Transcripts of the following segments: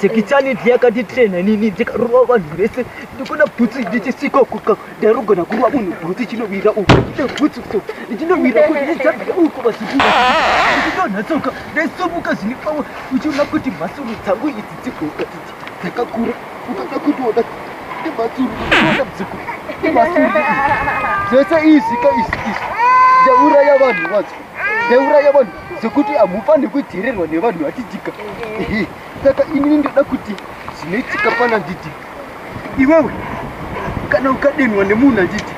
Tekitaniti yakanditrena nini ndikarova vanhu vese ndikona bhutsu ndichisiko kuka ndarugona kurova munhu bhutsu chinowira uko ine bhutsu so ndichinowira kuti ndichadzira uko vazukuru ndichidonhatsoka ndaisumuka zvine pawo uchiona kuti mhasuru dzangu idzi dzigoka idzi dzakakura ukada kutoona nemhasuru uchiona bzuku nemhasuru zvese izvi ka izvi izvi ndauraya vanhu vacho neuraya vanhu sekuti hamufanire kuteererwa nevanhu vachidika saka inini ndoda kuti zvinoitika pana nditi iwewe kana ukadenwa nemunhu anditi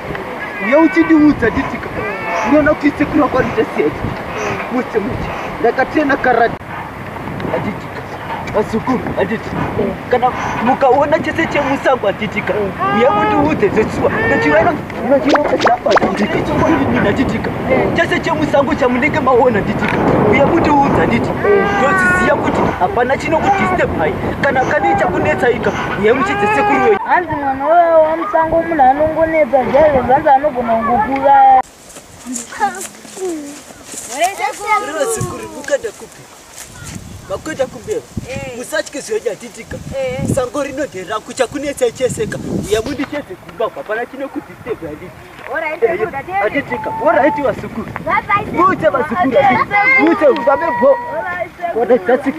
uye uchindiudza nditika unoona kuti sekuru wako anoita sei musemuti ndakatena karati Atitika. Vazukuru, atiti. Kana mukaona chese chemusango atitika. Uya mutiudze zvesuwa. Nechirano nechirano chapa atitika. Chokwadi atitika. Chese chemusango chamunenge maona atitika. Uya mutiudze atiti. Toziziya kuti hapana chinokudisturb hai. Kana kane chakunetsa ika. Uya muchidze sekuru wenyu. Hanzi mwana wamusango munhu anongonetsa zvaive zvanzi anogona kungokuuraya. Rinozikuribukada kupi makuita kumbeva eh. musatye zvoja titika eh. sango rino deraku chakunetsa cheseka uya mundi chese kumba kwapana chine kudistebha ndi atitika oraiti vasukuru muite vasukuru muite ubabe bho kona dzatsika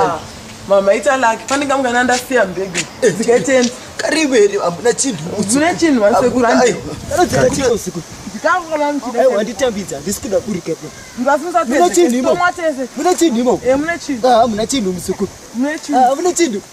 Ah, mama ita laki fanenge mungana ndasiya mbege eh, dzikatenda kariveri hamuna chinhu mune chinhu vasekuraanditambidza handisi kuda kurikepmune chinhu imohamuna chinhu musekuru hamuna chinhu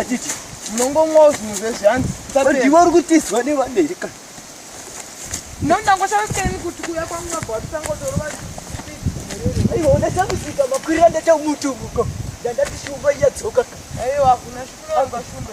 Atiti. Munongomwawo zvinhu zvezvanzi. Ndiwe uri kutizwa nevamberi ka. Nonda ngoshawiseni kuti kuya kwangu mabwa tisangotorova. Aiwa ona chakusika makwira ndata mutu muko. Ndandati shumba iyadzoka. Aiwa kuna shumba shumba.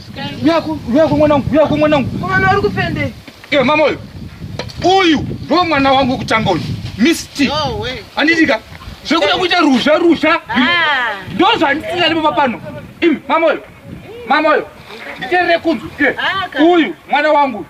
Uyako, uyako mwanangu, uyako mwanangu. Mwana uri kupende. Iwe mama uyu. Uyu ndo mwana wangu kutanga uyu. Misty. No way. Anditika. Zvekuda kuita ruzha ruzha. Ah. Ndo zvandisina lipo papano. Imi mama uyu. Mama uyu. Nditerere kunzwi. Ah, uyu mwana wangu.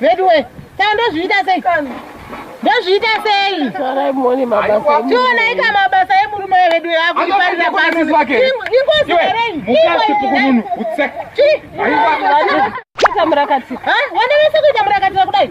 veduwe kaa ndozviita sei ndozviita sei tionai ka mabasa emurume weveduwe akuiparira pasingozi hereimukasipukununu utsek wanevese kuita murakatira kudai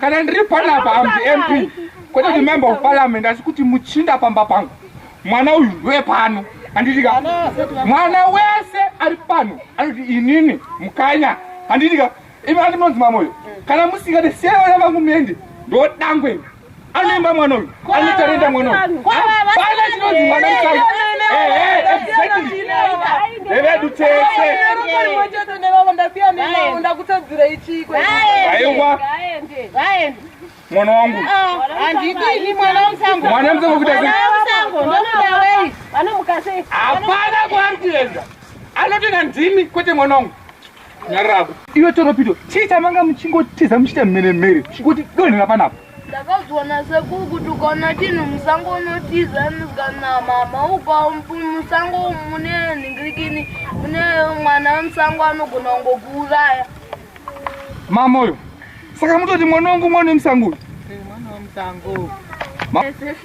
Kana ndiri panapa am the MP kwete kuti member of parliament asi kuti muchinda pamba pangu mwana uyu ndoye pano handitika mwana wese ari pano anoti inini mukanya handitika imi andinonzi mamoyo kana musingade siyana vangu muende ndodangwe anoimba mwana uyu anotarenda mwana hapana chinonzi mwana musango evedu tese aiwa mwana wangu mwana musango kuda hapana kwaari kuenda anotenda ndimi kwete mwana wangu nyarako iwe toropido chii chamanga muchingotiza muchiita mhere mhere chingoti donhera panapo ndakazviona sekuru kuti ukaona chinhu musango unotiza kana mama ukamusango mune nhingirikini mune mwana wemusango anogona kungokuuraya mama uyo saka mutoti mwana wangu mwana wemusango uyu